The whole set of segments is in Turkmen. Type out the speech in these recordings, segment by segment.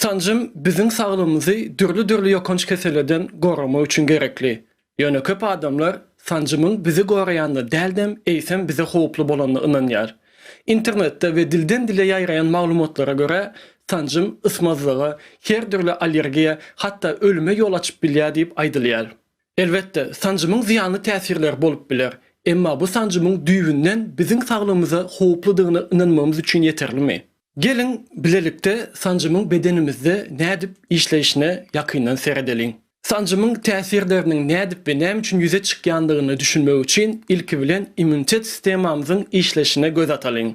Sanjym biziň saglygymyzy dürli-dürli ýokanç kesellerden goramak üçin gerekli. Ýöne köp adamlar sanjymyň bizi goraýanyna däldem, eýsem bize howply bolanyna ynanýar. Internetde we dilden-dile ýaýraýan maglumatlara görä, sanjym ysmazlyga, her dürli allergiýa, hatda ölüme ýol açyp bilýär diýip aýdylýar. Elbetde, sanjymyň zyýanly täsirleri bolup biler. Emma bu sanjymyň düýbünden biziň saglygymyza howpludygyna ynanmagymyz üçin ýeterlimi? Geliň, bilelikde sanjymyň bedenimizde nädip işleýşine ýakyndan seredeliň. Sanjymyň täsirleriniň nädip we näme üçin ýüze çykýandygyna düşünmek üçin ilki bilen immunitet sistemamyzyň işleýşine göz atalyň.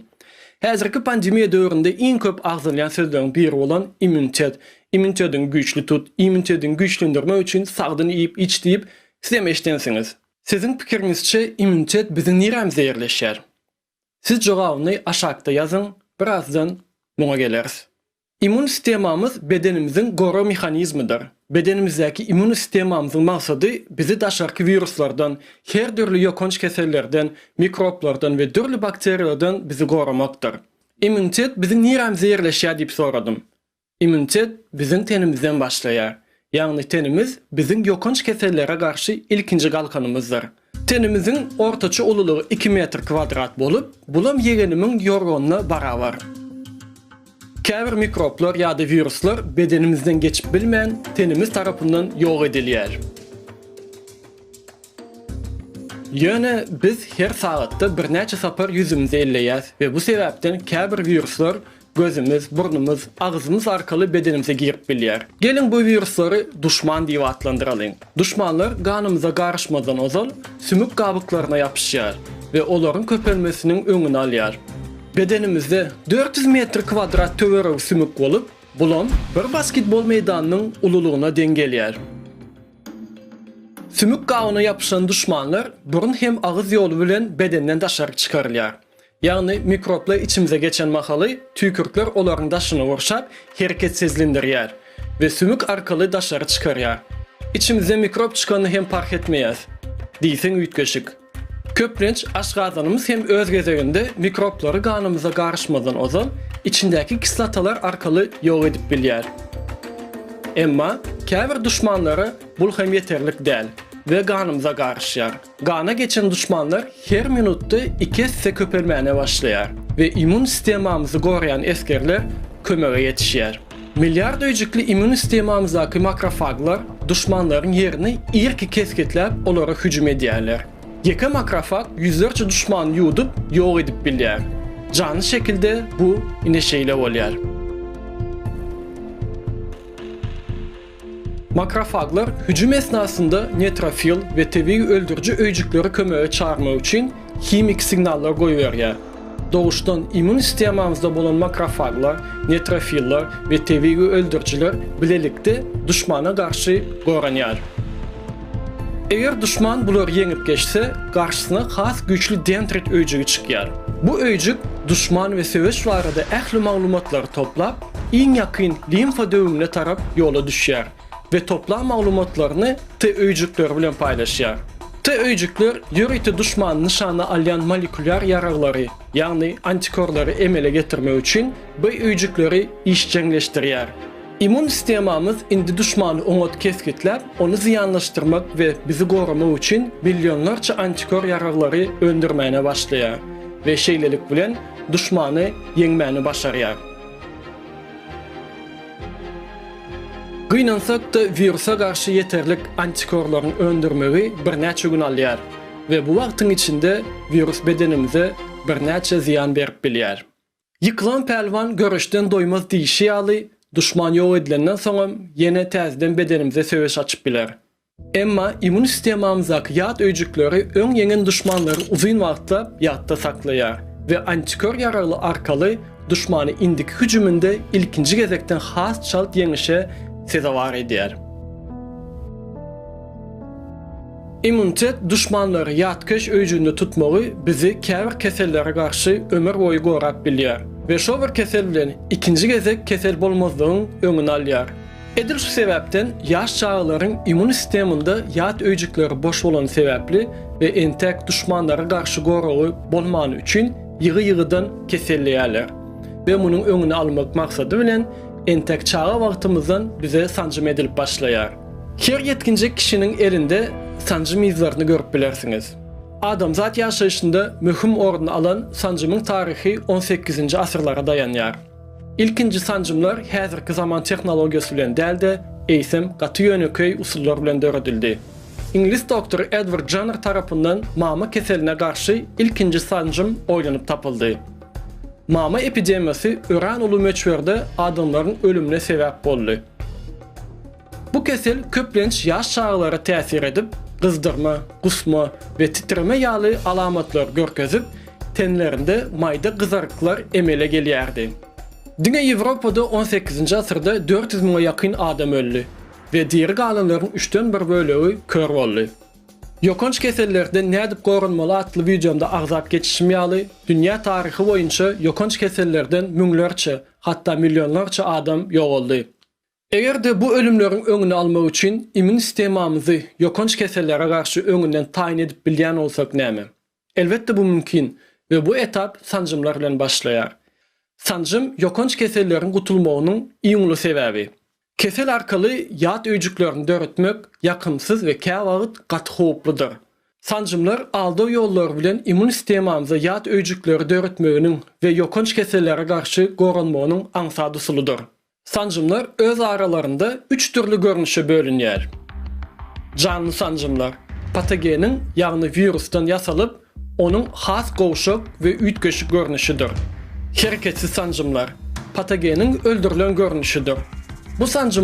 Häzirki pandemiýa döwründe iň köp agzalýan sözleriň biri bolan immunitet, Immunitediňi güýçli tut, immunitediňi güýçlendirmek üçin sagdyn iýip-iç diýip, sizem eşidensiňiz. Siziň pikiriňizçe immunitet biziň nirämize ýerleşýär? Siz jogabyny aşakda ýazyň, birazdan muňa geleris. Immun sistemamyz bedenimiziň gorag mehanizmidir. Bedenimizdäki immun sistemamyzyň maksady bizi daşarky wiruslardan, her dürli ýokanç kesellerden, mikroblardan we dürli bakteriýalardan bizi goramakdyr. Immunitet biziň nirämize ýerleşýär diýip soradym. Immunitet biziň tenimizden başlaýar. Ýagny tenimiz biziň ýokanç kesellere garşy ilkinji galkanymyzdyr. Tenimiziň ortaça ululygy iki metr kwadrat bolup, bulam ýegenimiň ýorganyna barabar. Käbir mikroblar ýa-da wiruslar bedenimizden geçip bilmän, tenimiz tarapyndan ýok edilýär. Ýöne biz her sagatda birnäçe sapar ýüzümizi elleýäs we bu sebäpden käbir wiruslar Gözümiz, burnumyz, agzymyz arkaly bedenimize girip bilýär. Geliň bu wiruslary duşman diýip atlandyralyň. Duşmanlar ganymyza garyşmazdan ozal sümük gabyklaryna ýapyşýar we olaryň köpelmesiniň öňüni alýar. Bedenimizde dört ýüz metr kwadrat töweregi sümük bolup, bulam bir basketbol meýdanynyň ululygyna deň gelýär. Sümük gabyna ýapyşan duşmanlar burun hem agyz ýoly bilen bedenden daşaryk çykarylýar. Ýagny mikroblar içimize geçen mahaly tüýkürtler olaryň daşyny gurşap, hereketsizlindirýär we sümük arkaly daşary çykarýar. Içimizde mikrop çykanyny hem parh etmeýäs diýseň üýtgeşik. Köplenç aşgazanymyz hem öz gezeginde mikroblary ganymyza garyşmazdan ozal içindäki kislotalar arkaly ýok edip bilýär. Emma käbir duşmanlara bul hem ýeterlik däl we ganymyza garyşýar. Gana geçen duşmanlar her minutda iki esse köpelmäne başlaýar we immun stemamyzy goraýan esgerler kömege ýetişýär. Milliard öýjükli immun stemamyzdaky makrofaglar duşmanlaryň ýerini irki kesgitläp olara hüjüm edýärler. Ýeke makrofag ýüzlerçe duşmany ýuwdup ýok edip bilýär. Janly şekilde bu ine şeýle bolýar. Makrofaglar hüjüm esnasynda netrofil we tebigy öldüriji öýjükleri kömege çagyrmak üçin himiki signallar goýberýär. Doguşdan immun stemamyzda bolan makrofaglar, netrofillar we tebigy öldürijiler bilelikde duşmana garşy goranýar. Eger duşman bulary ýeňip geçse, garşysyna has güýçli dendrit öýjügi çykýar. Bu öýjük duşman we söweş barada ähli maglumatlary toplap, iň ýakyn limfa döwügne tarap ýola düşýär we toplan maglumatlaryny T öýjükleri bilen paýlaşýar. T öýjükler ýörite duşmany nyşana alýan molekulýar ýaraglary, ýagny antikorlary emele getirmek üçin B öýjükleri işjeňleşdirýär. Immun sistemamyz indi duşmany oňat kesgitläp, ony zyýanlaşdyrmak we bizi goramak üçin billionlarça antikor ýaraglary öndürmäne başlaýar we şeýlelik bilen duşmany ýeňmäni başarýar. Gynansak-da, wirusa garşy ýeterlik antikorlaryň öndürmegi birnäçe gün alýar we bu wagtyň içinde wirus bedenimize birnäçe zyýan berip bilýär. Ýykylan pälwan göreşden doýmaz diýşi ýaly, duşman ýok edilenden soňam ýene täzeden bedenimize söweş açyp biler. Emma immun sistemamyzdaky ýat öýjükleri öň ýeňen duşmanlary uzyn wagtlap ýatda saklaýar we antikör ýaragly arkaly duşmany indiki hüjüminde ilkinji gezekden has çalt ýeňişe sezewar edýär. Immunitet duşmanlary ýatkeş öýjüginde tutmagy bizi käbir kesellere garşy ömür boýy gorap bilýär we şo bir kesel bilen ikinji gezek kesel bolmazlygyň öňüni alýar. Edil şu sebäpden ýaş çagalaryň immun sisteminde ýat öýjükleri boş bolany sebäpli we entek duşmanlara garşy goragy bolmany üçin ýygy-ýygydan keselleýärler we munuň öňüni almak maksady bilen entek çaga wagtymyzdan bize sanjym edilip başlaýar. Her ýetginjek kişiniň elinde sanjym yzlaryny görüp bilersiňiz. Adamzat ýaşaýşynda möhüm orun alan sanjymyň taryhy on sekizinji asyrlara daýanýar. Ilkinji sanjymlar häzirki zaman tehnologiýasy bilen däl-de, eýsem, gaty ýönekeý usullar bilen döredildi. Iňlis doktory Edward Janner tarapyndan mama keseline garşy ilkinji sanjym oýlanyp tapyldy. Mama epidemiýasy örän uly möçberde adamlaryň ölümine sebäp boldy. Bu kesel köplenç ýaş çagalara täsir edip, gyzdyrma, gusma we titreme ýaly alamatlary görkezip, tenlerinde maýda gyzaryklar emele gelýärdi. Diňe Ýewropada on sekizinji asyrda dört ýüz müňe ýakyn adam öldi we diri galanlaryň üçden bir bölegi kör boldy. Ýokanç kesellerden nädip goranmaly atly wideomda agzap geçişim ýaly, dünýä taryhy boýunça ýokanç kesellerden müňlerçe, hatda millionlarça adam ýogaldy. Eger-de bu ölümleriň öňüni almak üçin immün sistemamyzy ýokanç kesellere garşy öňünden taýyn edip bilýän bolsak näme? Elbetde bu mümkin we bu etap sanjymlar bilen başlaýar. Sanjym ýokanç keselleriň gutulmagynyň iň uly sebäbi. Kesel arkaly ýat öýjüklerini döretmek ýakymsyz we käwagt gaty howpludyr. Sanjymlar aldaw ýollary bilen immün sistemamyza ýat öýjükleri döretmeginiň we ýokanç kesellere garşy goranmagynyň aňsat usulydyr. Sanjymlar öz aralarynda üç dürli görnüşe bölünýär. Janly sanjymlar, patogeniň, ýagny wirusdan ýasalyp, onuň has gowşak we üýtgeşik görnüşidir. Hereketsiz sanjymlar, patogeniň öldürilen görnüşidir. Bu sanjymlar.